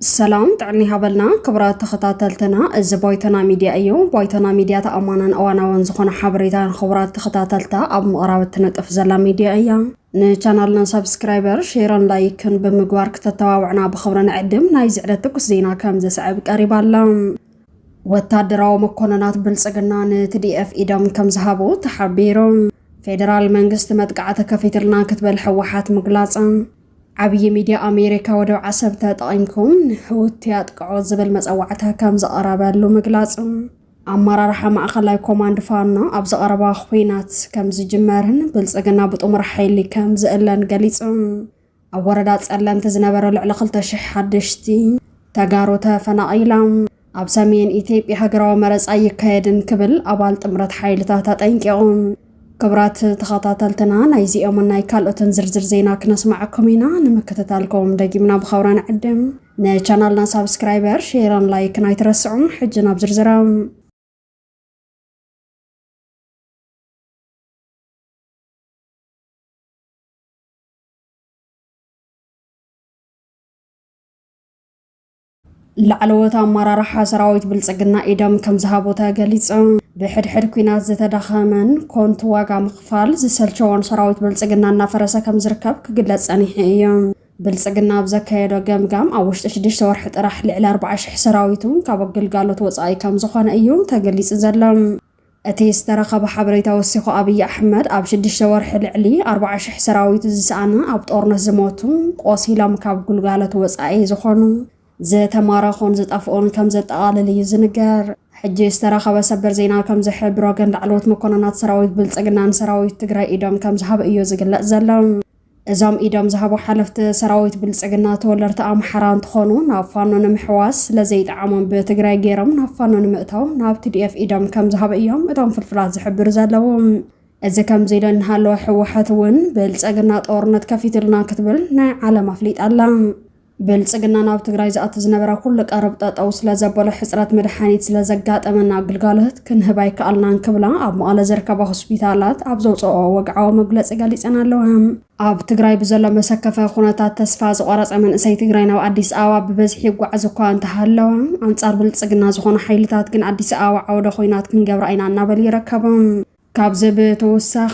ሰላም ጥዕና ይሃበልና ክብራት ተኸታተልትና፣ እዚ ባይቶና ሚድያ እዩ። ባይቶና ሚድያ ተኣማናን እዋናውን ዝኾነ ሓበሬታ ንኽቡራት ተኸታተልታ ኣብ ምቕራብ እትነጥፍ ዘላ ሚድያ እያ። ንቻናልና ሰብስክራይበር፣ ሼርን ላይክን ብምግባር ክተተባብዕና ብኽብሪ ንዕድም። ናይ ዝዕለት ትኩስ ዜና ከም ዘስዕብ ቀሪባ ኣላ። ወታደራዊ መኮነናት ብልጽግና ንትዲኤፍ ኢዶም ከም ዝሃቡ ተሓቢሩ። ፌደራል መንግስቲ መጥቃዕቲ ከፊትልና ክትበል ሕወሓት ምግላጻ። ዓብዪ ሚድያ ኣሜሪካ ወደብ ዓሰብ ተጠቒምኩም ንሕውቲ ኣጥቅዑ ዝብል መጸዋዕታ ከም ዝቐረበሉ ምግላጹ። ኣመራርሓ ማእኸላይ ኮማንድ ፋኖ ኣብዚ ቀረባ ኹናት ከም ዝጅመርን ብልጽግና ብጥሙር ሓይሊ ከም ዝእለን ገሊጹ። ኣብ ወረዳ ጸለምቲ ዝነበረ ልዕሊ 2,000 ሓደሽቲ ተጋሩ ተፈናቒሎም ኣብ ሰሜን ኢትዮጵያ ሃገራዊ መረጻ ኣይካየድን ክብል ኣባል ጥምረት ሓይልታት ኣጠንቂቑ። ክብራት ተኸታተልትና ናይ ዚኦምን ናይ ካልኦትን ዝርዝር ዜና ክነስማዓኩም ኢና። ንምክትታልኩም ደጊምና ብኸብራ ንዕድም። ንቻናልና ሳብስክራይበር፣ ሼርን ላይክን ኣይትረስዑ። ሕጂ ናብ ዝርዝሮም ላዕለዎት ኣመራርሓ ሰራዊት ብልፅግና ኢዶም ከም ዝሃቡ ተገሊፆም። ብሕድሕድ ኩናት ዝተዳኸመን ኮንቱ ዋጋ ምኽፋል ዝሰልቸዎን ሰራዊት ብልፅግና እናፈረሰ ከም ዝርከብ ክግለፅ ፀኒሑ እዩ። ብልፅግና ኣብ ዘካየዶ ገምጋም ኣብ ውሽጢ ሽዱሽተ ወርሒ ጥራሕ ልዕሊ ኣርባዓ ሽሕ ሰራዊቱ ካብ ግልጋሎት ወፃኢ ከም ዝኾነ እዩ ተገሊፁ ዘሎ። እቲ ዝተረኸበ ሓበሬታ ወሲኹ ኣብይ ኣሕመድ ኣብ ሽዱሽተ ወርሒ ልዕሊ ኣርባዓ ሽሕ ሰራዊቱ ዝሰኣነ፣ ኣብ ጦርነት ዝሞቱ፣ ቆሲሎም ካብ ግልጋሎት ወፃኢ ዝኾኑ፣ ዝተማረኹን ዝጠፍኡን ከምዘጠቓልል እዩ ዝንገር። ሕጂ ዝተረኸበ ሰበር ዜና ከምዝሕብሮ ግን ላዕለዎት መኮነናት ሰራዊት ብልፅግና ንሰራዊት ትግራይ ኢዶም ከምዝሃቡ እዩ ዝግለፅ ዘሎ። እዞም ኢዶም ዝሃቡ ሓለፍቲ ሰራዊት ብልፅግና ተወለድቲ ኣምሓራ እንትኾኑ ናብ ፋኖ ንምሕዋስ ስለዘይጠዓሞም ብትግራይ ገይሮም ናብ ፋኖ ንምእታው ናብ ቲዲኤፍ ኢዶም ከምዝሃቡ እዮም እቶም ፍልፍላት ዝሕብሩ ዘለዉ። እዚ ከምዚ ኢሉ እናሃለወ ህወሓት እውን ብልፅግና ጦርነት ከፊቱልና ክትብል ናይ ዓለም ኣፍሊጣ ኣላ። ብልፅግና ናብ ትግራይ ዝኣቲ ዝነበረ ኩሉ ቀረብ ጠጠው ስለዘበሎ ሕፅረት መድሓኒት ስለዘጋጠመና ግልጋሎት ክንህብ ኣይከኣልናን ክብላ ኣብ መቐለ ዝርከባ ሆስፒታላት ኣብ ዘውፅኦ ወግዓዊ መግለፂ ገሊፀን ኣለዋ። ኣብ ትግራይ ብዘሎ መሰከፈ ኩነታት ተስፋ ዝቖረፀ መንእሰይ ትግራይ ናብ ኣዲስ ኣበባ ብበዝሒ ይጓዓዝ እኳ እንተሃለወ ኣንፃር ብልፅግና ዝኾኑ ሓይልታት ግን ኣዲስ ኣበባ ዓውደ ኹናት ክንገብራ ኢና እናበሉ ይርከቡ። ካብዚ ብተወሳኺ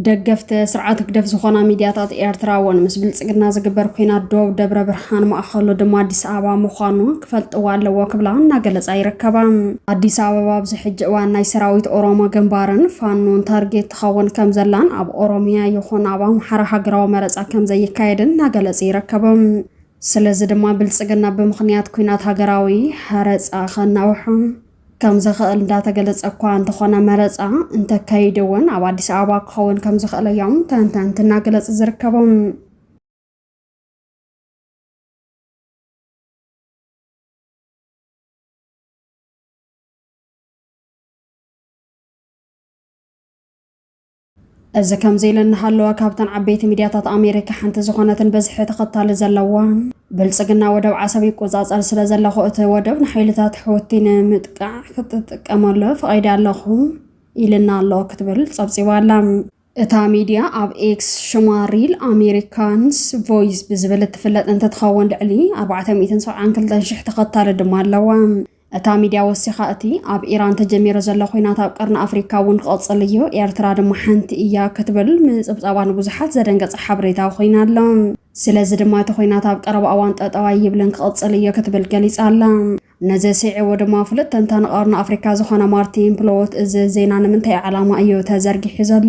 ደገፍቲ ስርዓት ህግደፍ ዝኾና ሚድያታት ኤርትራ እውን ምስ ብልጽግና ዝግበር ኩናት ዶብ ደብረ ብርሃን ማእኸሉ ድማ ኣዲስ ኣበባ ምዃኑ ክፈልጥዎ ኣለዎ ክብላ እናገለጻ ይርከባ። ኣዲስ ኣበባ ኣብዚ ሕጂ እዋን ናይ ሰራዊት ኦሮሞ ግንባርን ፋኖን ታርጌት ትኸውን ከምዘላን ኣብ ኦሮሚያ ይኹን ኣብ ኣምሓራ ሃገራዊ መረጻ ከምዘይካየድን እናገለጹ ይርከቡ። ስለዚ ድማ ብልጽግና ብምኽንያት ኩናት ሃገራዊ ሀረጻ ከናውሑ ከም ዝኽእል እንዳተገለፀ እኳ እንተኾነ መረፃ እንተካይድ እውን ኣብ ኣዲስ ኣበባ ክኸውን ከም ዝኽእል እዮም ተንተንቲ እናገለፁ ዝርከቡ። እዚ ከምዚ ኢሉ እናሃለወ ካብተን ዓበይቲ ሚድያታት ኣሜሪካ ሓንቲ ዝኾነትን ብዝሒ ተኸታሊ ዘለዋ ብልፅግና ወደብ ዓሰብ ይቆፃፀር ስለ ዘለኹ እቲ ወደብ ንሓይልታት ሑቲ ንምጥቃዕ ክትጥቀመሉ ፈቒደ ኣለኹ ኢልና ኣሎ ክትብል ፀብፂባ ኣላ። እታ ሚድያ ኣብ ኤክስ ሽማ ሪል ኣሜሪካንስ ቮይስ ብዝብል እትፍለጥ እንትትኸውን ልዕሊ ኣርባዕተ ሚእትን ሰብዓን ክልተን ሽሕ ተኸታሊ ድማ ኣለዋ። እታ ሚድያ ወሲኻ እቲ ኣብ ኢራን ተጀሚሩ ዘሎ ኹናት ኣብ ቀርኒ ኣፍሪካ እውን ክቕፅል እዩ፣ ኤርትራ ድማ ሓንቲ እያ ክትብል ምፅብፃባ ንብዙሓት ዘደንገፀ ሓበሬታ ኹይኑ ኣሎ። ስለዚ ድማ እቲ ኹናት ኣብ ቀረባ እዋን ጠጠው ኣይብልን ክቕፅል እዮ ክትብል ገሊፃ ኣላ። ነዚ ስዒቡ ድማ ፍሉጥ ተንታኒ ቀርኒ ኣፍሪካ ዝኾነ ማርቲን ፕሎዎት እዚ ዜና ንምንታይ ዓላማ እዩ ተዘርጊሑ ዘሎ?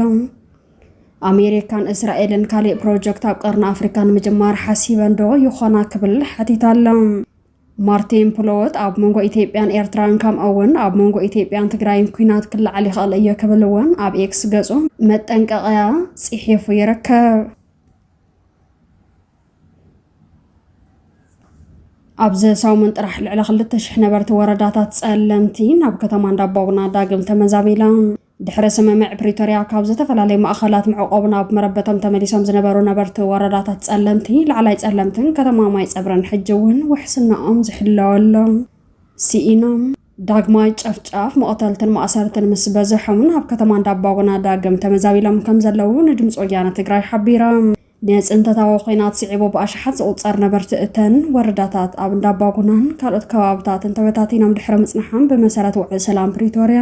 ኣሜሪካን እስራኤልን ካሊእ ፕሮጀክት ኣብ ቀርኒ ኣፍሪካ ንምጅማር ሓሲበን ዶ ይኾና ክብል ሓቲቱ ኣሎ። ማርቲን ፕሎወት ኣብ መንጎ ኢትዮጵያን ኤርትራን ከምኡ'ውን ኣብ መንጎ ኢትዮጵያን ትግራይን ኲናት ክለዓል ይኽእል እዩ ክብል እውን ኣብ ኤክስ ገጹ መጠንቀቕያ ጽሒፉ ይርከብ። ኣብዚ ሰሙን ጥራሕ ልዕሊ ክልተ ሽሕ ነበርቲ ወረዳታት ጸለምቲ ናብ ከተማ እንዳባጉና ዳግም ተመዛቢሎም። ድሕሪ ስምምዕ ፕሪቶርያ ካብ ዝተፈላለዩ ማእኸላት መዕቖቢ ናብ መረበቶም ተመሊሶም ዝነበሩ ነበርቲ ወረዳታት ፀለምቲ፣ ላዕላይ ፀለምትን ከተማ ማይ ፀብርን ሕጂ እውን ውሕስናኦም ዝሕለወሎም ስኢኖም። ዳግማይ ጨፍጫፍ፣ መቕተልትን ማእሰርትን ምስ በዘሖምን ኣብ ከተማ እንዳባጉና ዳግም ተመዛቢሎም ከም ዘለዉ ንድምፂ ወያነ ትግራይ ሓቢራ። ንፅንተታዊ ኹናት ስዒቡ ብኣሽሓት ዝቑፀር ነበርቲ እተን ወረዳታት ኣብ እንዳባጉናን ካልኦት ከባብታትን ተበታቲኖም ድሕሪ ምፅንሓም ብመሰረት ውዕል ሰላም ፕሪቶርያ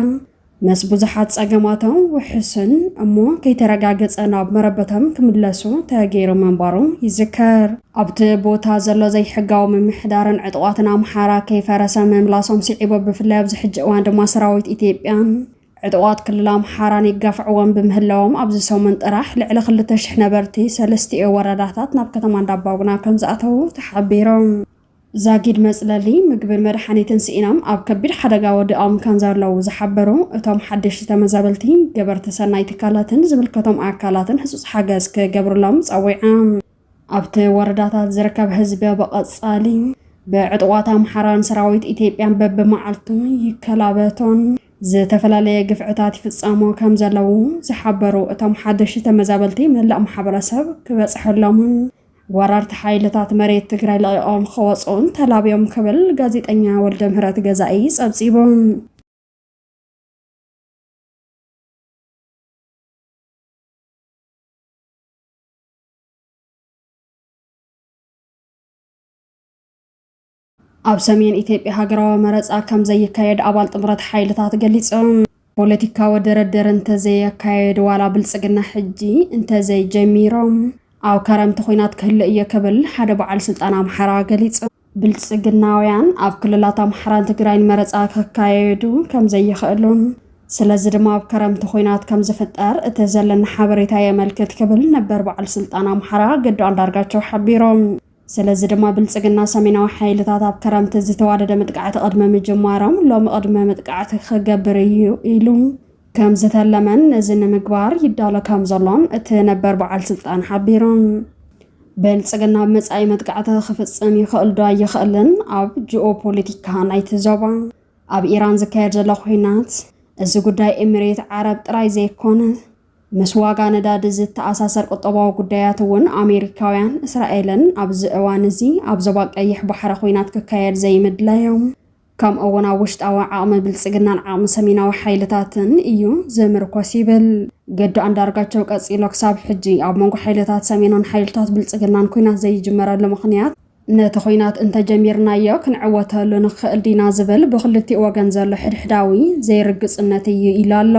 ምስ ብዙሓት ጸገማቶም ውሕስን እሞ ከይተረጋገጸ ናብ መረበቶም ክምለሱ ተገይሩ ምንባሩ ይዝከር። ኣብቲ ቦታ ዘሎ ዘይሕጋዊ ምምሕዳርን ዕጡቓትን ኣምሓራ ከይፈረሰ ምምላሶም ስዒቡ ብፍላይ ኣብዚ ሕጂ እዋን ድማ ሰራዊት ኢትዮጵያን ዕጡቓት ክልል ኣምሓራን ይጋፍዕዎም ብምህላዎም ኣብዚ ሰሙን ጥራሕ ልዕሊ ክልተ ሽሕ ነበርቲ ሰለስቲኦ ወረዳታት ናብ ከተማ እንዳባጉና ከምዝኣተዉ ተሓቢሩ። ዛጊድ መጽለሊ፣ ምግብን መድሓኒትን ስኢኖም ኣብ ከቢድ ሓደጋ ወዲቖም ከምዘለዉ ዝሓበሩ እቶም ሓደሽቲ ተመዛበልቲ፣ ገበርቲ ሰናይ ትካላትን ዝምልከቶም ኣካላትን ህጹጽ ሓገዝ ክገብርሎም ጸዊዖም። ኣብቲ ወረዳታት ዝርከብ ህዝቢ ብቐጻሊ ብዕጡቓት ኣምሓራን ሰራዊት ኢትዮጵያን በብመዓልቱ ይከላበቶን ዝተፈላለየ ግፍዕታት ይፍጸሞ ከምዘለዉ ዝሓበሩ እቶም ሓደሽቲ ተመዛበልቲ፣ መላእ ማሕበረሰብ ክበጽሐሎምን ወረርቲ ሓይልታት መሬት ትግራይ ለቒቖም ኸወፅኡን ተላብዮም ክብል ጋዜጠኛ ወልደምህረት ገዛኢ ፀብፂቡ። ኣብ ሰሜን ኢትዮጵያ ሃገራዊ መረፃ ከም ዘይካየድ ኣባል ጥምረት ሓይልታት ገሊፆም። ፖለቲካዊ ድርድር እንተዘየካየድ ዋላ ብልፅግና ሕጂ እንተዘይጀሚሮ ኣብ ከረምቲ ኹናት ክህሉ እየ ክብል ሓደ በዓል ስልጣን ኣምሓራ ገሊፁ። ብልፅግናውያን ኣብ ክልላት ኣምሓራን ትግራይን መረፃ ከካየዱ ከም ዘይኽእሉን ስለዚ ድማ ኣብ ከረምቲ ኹናት ከም ዝፍጠር እቲ ዘለኒ ሓበሬታ የመልክት ክብል ነበር በዓል ስልጣን ኣምሓራ ገዱ ኣንዳርጋቸው ሓቢሮም። ስለዚ ድማ ብልጽግና ሰሜናዊ ሓይልታት ኣብ ከረምቲ ዝተዋደደ መጥቃዕቲ ቅድሚ ምጅማሮም ሎሚ ቅድመ መጥቃዕቲ ክገብር እዩ ኢሉ ከም ዝተለመን ነዚ ንምግባር ይዳሎ ከም ዘሎን እቲ ነበር በዓል ስልጣን ሓቢሮም። ብልጽግና ኣብ መጻኢ መጥቃዕቲ ክፍጽም ይኽእል ዶ ኣይኽእልን ኣብ ጂኦ ፖለቲካ ናይቲ ዞባ ኣብ ኢራን ዝካየድ ዘሎ ኹናት እዚ ጉዳይ ኤሚሬት ዓረብ ጥራይ ዘይኮነ ምስ ዋጋ ነዳዲ ዝተኣሳሰር ቁጠባዊ ጉዳያት እውን ኣሜሪካውያን እስራኤልን ኣብዚ እዋን እዚ ኣብ ዞባ ቀይሕ ባሕሪ ኹናት ክካየድ ዘይምድላዮም ከምኡ እውን ኣብ ውሽጣዊ ዓቕሚ ብልፅግናን ዓቕሚ ሰሜናዊ ሓይልታትን እዩ ዝምርኮስ ይብል ገዱ ኣንዳርጋቸው ቀፂሎ ክሳብ ሕጂ ኣብ መንጎ ሓይልታት ሰሜንን ሓይልታት ብልፅግናን ኩናት ዘይጅመረሉ ምኽንያት ነቲ ኹናት እንተጀሚርናዮ ክንዕወተሉ ንኽእል ዲና ዝብል ብኽልቲኡ ወገን ዘሎ ሕድሕዳዊ ዘይርግፅነት እዩ ኢሉ ኣሎ።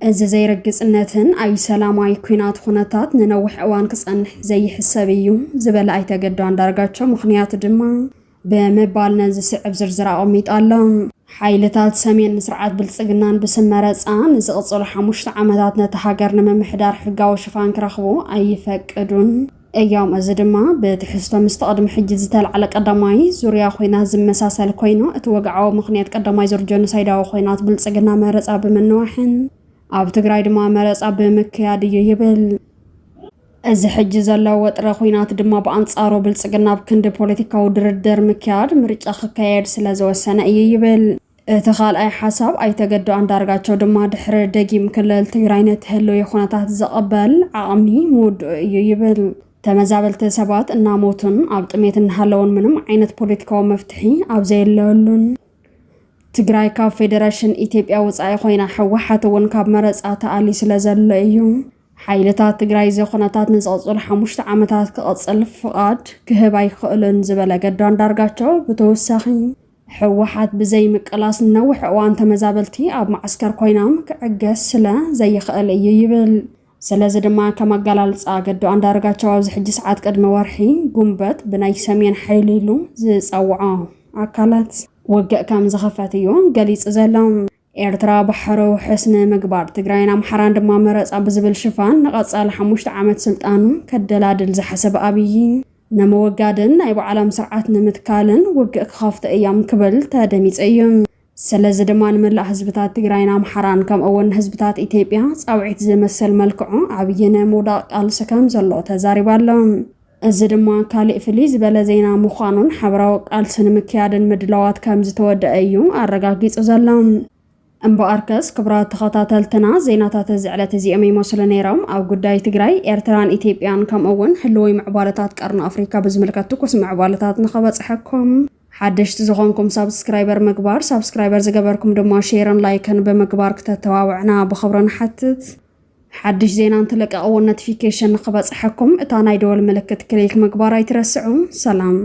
እዚ ዘይርግፅነትን ኣይ ሰላማዊ ኲናት ኹነታት ንነዊሕ እዋን ክፀንሕ ዘይሕሰብ እዩ ዝበለ ኣይተ ገዱ ኣንዳርጋቸው ምኽንያቱ ድማ ብምባል ነዚ ዝስዕብ ዝርዝር ኣቐሚጡ ኣሎ። ሓይልታት ሰሜን ንስርዓት ብልፅግናን ብስም መረፃ ንዝቕፅሉ ሓሙሽተ ዓመታት ነታ ሃገር ንምምሕዳር ሕጋዊ ሽፋን ክረኽቡ ኣይፈቅዱን። እዮም። እዚ ድማ ብትሕዝቶ ምስቲ ቅድሚ ሕጂ ዝተላዕለ ቀዳማይ ዙርያ ኹናት ዝመሳሰል ኮይኑ፣ እቲ ወግዓዊ ምኽንያት ቀዳማይ ዙር ጀኖሳይዳዊ ኹናት ብልጽግና መረጻ ብምንዋሕን ኣብ ትግራይ ድማ መረጻ ብምክያድ እዩ ይብል። እዚ ሕጂ ዘሎ ወጥሪ ኹናት ድማ ብኣንጻሩ ብልጽግና ኣብ ክንዲ ፖለቲካዊ ድርድር ምክያድ ምርጫ ክካየድ ስለዝወሰነ እዩ ይብል። እቲ ካልኣይ ሓሳብ ኣይተ ገዱ ኣንዳርጋቸው ድማ ድሕሪ ደጊም ክልል ትግራይ ነቲ ህልዊ ኩነታት ዝቕበል ዓቕሚ ምውድኡ እዩ ይብል። ተመዛበልቲ ሰባት እናሞቱን ኣብ ጥሜት እናሃለውን ምንም ዓይነት ፖለቲካዊ መፍትሒ ኣብ ዘየለሉን ትግራይ ካብ ፌደረሽን ኢትዮጵያ ወፃኢ ኮይና ህወሓት እውን ካብ መረፃ ተኣልዩ ስለ ዘሎ እዩ ሓይልታት ትግራይ እዚ ኩነታት ንዝቕፅሉ ሓሙሽተ ዓመታት ክቕፅል ፍቓድ ክህብ ኣይክእሉን ዝበለ ገዱ ኣንዳርጋቸው ብተወሳኺ ህወሓት ብዘይ ምቅላስ ንነዊሕ እዋን ተመዛበልቲ ኣብ ማዓስከር ኮይናም ክዕገስ ስለ ዘይኽእል እዩ ይብል። ስለዚ ድማ ከም ኣገላልፃ ገዱ ኣንዳርጋቸው ኣብዚ ሕጂ ሰዓት ቅድሚ ወርሒ ጉንበት ብናይ ሰሜን ሓይሊ ኢሉ ዝፀወዖ ኣካላት ውግእ ከም ዝኽፈት እዩ ገሊፁ ዘሎ። ኤርትራ ባሕረ ውሕስ ንምግባር ትግራይን ኣምሓራን ድማ መረፃ ብዝብል ሽፋን ንቐፃሊ ሓሙሽተ ዓመት ስልጣኑ ከደላድል ዝሓሰበ ኣብዪ ንምውጋድን ናይ ባዕሎም ስርዓት ንምትካልን ውግእ ክኸፍቱ እዮም ክብል ተደሚፀ እዩ። ስለዚ ድማ ንመላእ ህዝብታት ትግራይን ኣምሓራን ከምኡ'ውን ንህዝብታት ኢትዮጵያ ፃውዒት ዝመሰል መልክዑ ኣብዪ ንምውዳቕ ቃልሲ ከም ዘሎ ተዛሪቡ ኣሎ። እዚ ድማ ካሊእ ፍልይ ዝበለ ዜና ምዃኑን ሓበራዊ ቃልሲ ንምክያድን ምድላዋት ከምዝተወደኣ እዩ ኣረጋጊጹ ዘሎ። እምበኣርከስ ክብራት ተኸታተልትና ዜናታት እዚ ዕለት እዚኦም ይመስሉ ነይሮም። ኣብ ጉዳይ ትግራይ፣ ኤርትራን ኢትዮጵያን ከምኡ እውን ህልዊ ምዕባለታት ቀርኒ ኣፍሪካ ብዝምልከት ትኩስ ምዕባለታት ንኸበጽሐኩም ሓደሽቲ ዝኾንኩም ሳብስክራይበር ምግባር፣ ሳብስክራይበር ዝገበርኩም ድማ ሼርን ላይክን ብምግባር ክተተባብዑና ብኽብሪ ንሓትት። ሓድሽ ዜና እንትልቀቕ'ውን ነቲፊኬሽን ንኽበጽሐኩም እታ ናይ ደወል ምልክት ክሊክ ምግባር ኣይትረስዑ። ሰላም!